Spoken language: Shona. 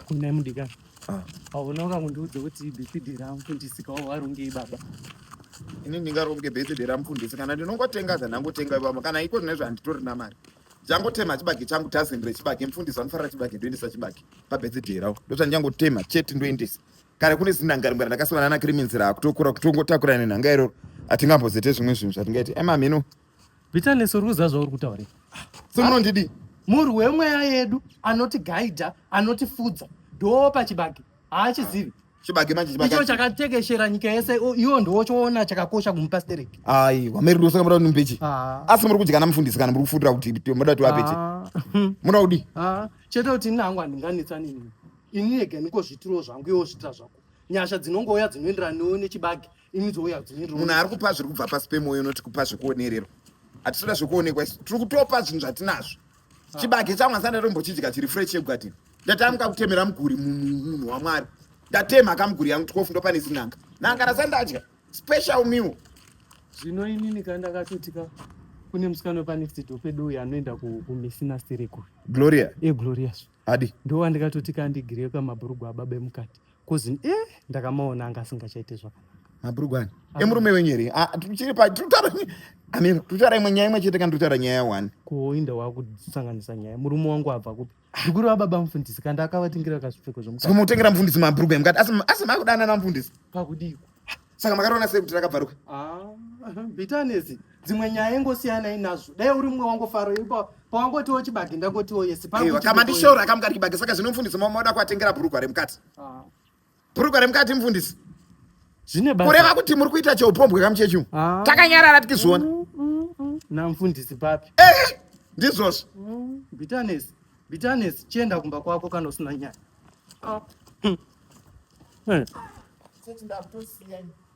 Kunai mudikani. Ah. Hauna wakangondiudza kuti birthday ramufundisi kawo warongei baba. Ini ndingaronge birthday ramufundisi kana ndinongotenga zvandangotenga ivamo kana iko zvine zvanditorina mari. Ndangotema chibage changu tazendere chibage mufundisi anofarira chibage ndoendesa chibage pabirthday rawo. Ndozvandangotema chete ndoendesa. Kare kune zinhangarimwe randakasangana naKriminzira kutokura kutongotakura nenhanga iroro atingambozoite zvimwe zvinhu zvatingaite. Ema mheno Bitterness uri kuziva zvauri kutaura. Semunondidi. Murwi wemweya yedu anoti gaida anoti fudza ndoo pachibage haachizivi chibage manje chibage icho chakatekeshera nyika yese iwo ndiwo choona chakakosha kumupa sterek ayi wameri rusa kamara ni mbechi ah. asi muri kudyana mufundisi kana muri kufutira kuti moda kuti wapeche ah. munoda kudi ah. chete kuti ini hangu handinganetsa nini ini ega ndiko zvitiro zvangu iwo zvitira zvako nyasha dzinongouya dzinoenderana newe nechibage imi dzouya dzinoenderana munhu ari kupa zviri kubva pasi pemoyo unoti kupa zvekuonererwa hatitoda zvekuonekwa isu tiri kutopa zvinhu zvatinazvo ah. chibage changu asi andatombochidya chiri fresh chegwadini ndatamuka kutemera muguri munhu wamwari ndatemha kamuguri yangu tikofu ndopane zinanga nanga rasandadya special meal zvino inini ka ndakatotika kune musikana wepanext door pedu uyu anoenda kumisina sirikuri gloria e gloria adi ndo wandikatoti kandigirei kamabhurugwa ababa emukati kozi e eh, ndakamaona anga asingachaite zvakanaka mabhurugwa ani ah. emurume wenyu here ah, tiri pa tutaura amira tutaura imwe nyaya imwe chete kana tutaura nyaya one kuoinda wakusanganisa nyaya murume wangu abva kupi zvikuru vababa mufundisi kanda akavatingira kazvipfeko zvomukati mutengera mufundisi mabhurugwa emukati asi asi makudanana mufundisi pakudiko saka makatoona sei kuti rakabvaruka ah, bitanesi dzimwe nyaya ingosiyanai nazvo dai uri mumwe wangofaro ipa pawangotiwo chibage ndangotiwo yesi kama ndishoro akamukati chibage saka zvino mfundisi mamoda kuatengera bhurugwa remukati ah. bhurugwa remukati mfundisi kureva kuti muri kuita cheupombwe kamuchechu ah. takanyarara tikizviona mm, mm, mm. namfundisi papi eh, ndizvozvo bitanesi Bitterness, chienda kumba kwako kana usina nyaya. Oh. Hm. Hey.